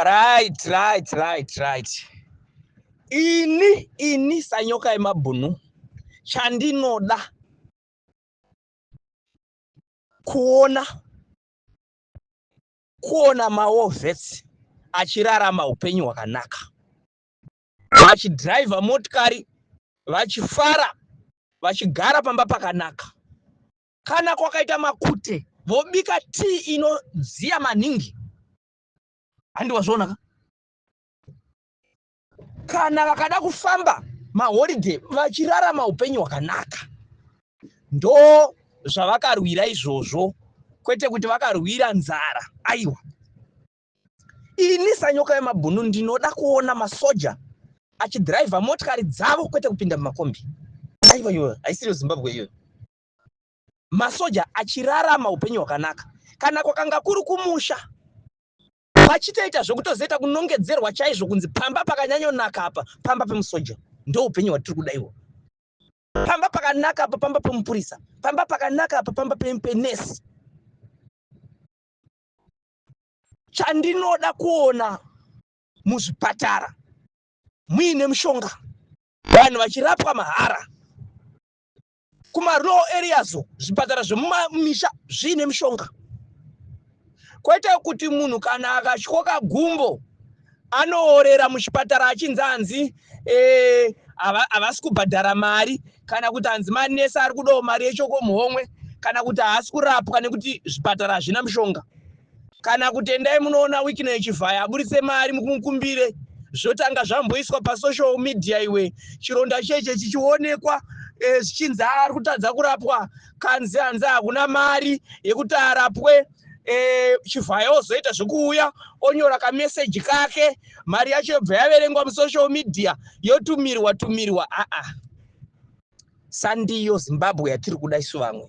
right right right right ini ini sanyoka yemabhunu chandinoda kuona kuona mawovhets achirarama upenyu hwakanaka vachidhiraivha motikari vachifara vachigara pamba pakanaka Kana kwakaita makute vobika tii inodziya maningi handi wazviona ka kana vakada kufamba maholiday vachirarama upenyu hwakanaka ndo zvavakarwira izvozvo kwete kuti vakarwira nzara aiwa ini sanyoka yemabhunu ndinoda kuona masoja achidhiraivha motikari dzavo kwete kupinda mumakombi aiwa iyoyo haisiriyo zimbabwe iyoyo masoja achirarama upenyu hwakanaka kana kwakanga kuri kumusha vachitoita zvekutozoita kunongedzerwa chaizvo kunzi pamba pakanyanyonaka apa pamba pemusoja ndoupenyu hwatiri kuda iwo pamba pakanaka apa pamba pemupurisa pamba pakanaka apa pamba penesi chandinoda kuona muzvipatara muine mushonga vanhu vachirapwa mahara kumarural areas zvipatara zvemumamisha zviine mishonga kwete kuti munhu kana akatyoka gumbo anoorera muchipatara achinzi anzi eh, havasi kubhadhara mari kana kuti hanzi manesi ari kudawo mari yechokomuhomwe kana kuti haasi kurapwa nekuti zvipatara hazvina mishonga Kana kuti endai munoona Wicknell Chivhaya aburitse mari mumukumbire. Zvotanga zvamboiswa pasocial media iwe. Chironda cheche chichionekwa eh, zvichinzi eh, ari kutadza kurapwa kanzi hanzi hakuna mari yekuti arapwe eh, Chivhaya ozoita zvekuuya onyora kameseji kake mari yacho yobva yaverengwa musocial media yotumirwa tumirwa aa ah, ah. sandiyo zimbabwe yatiri kuda isu vamwe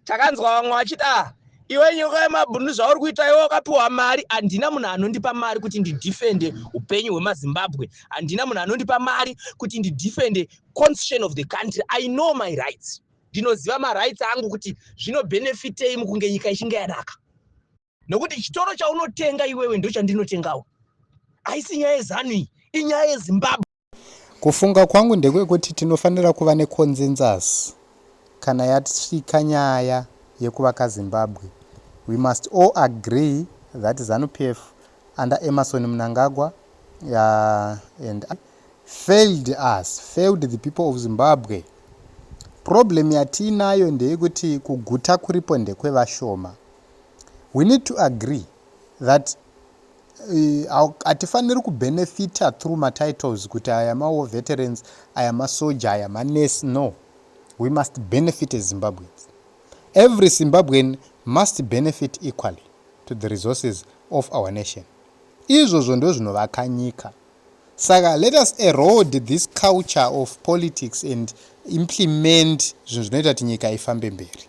takanzwa vamwe vachiti ah iwe nyoka yemabhunu zvauri kuita iwe wakapiwa mari handina munhu anondipa mari kuti ndidefende upenyu hwemazimbabwe handina munhu anondipa mari kuti ndidefende constitution of the country i know my rights ndinoziva marights angu kuti zvinobhenefitei mukunge nyika ichinge yanaka nokuti chitoro chaunotenga iwewe ndochandinotengawo haisi nyaya yezanu iyi inyaya yezimbabwe kufunga kwangu ndekwekuti tinofanira kuva neconsensus kana yasvika nyaya yekuvaka zimbabwe we must all agree that zanupf under emerson mnangagwa uh, and failed us failed the people of zimbabwe problem yatiinayo ndeyekuti kuguta kuripo ndekwevashoma We need to agree that hatifaniri uh, kubenefita through matitles kuti aya mawar veterans aya masoja aya manurse no we must benefit as zimbabweans every zimbabwean must benefit equally to the resources of our nation izvozvo ndo zvinovaka nyika saka let us erode this culture of politics and implement zvinhu zvinoita kuti nyika ifambe mberi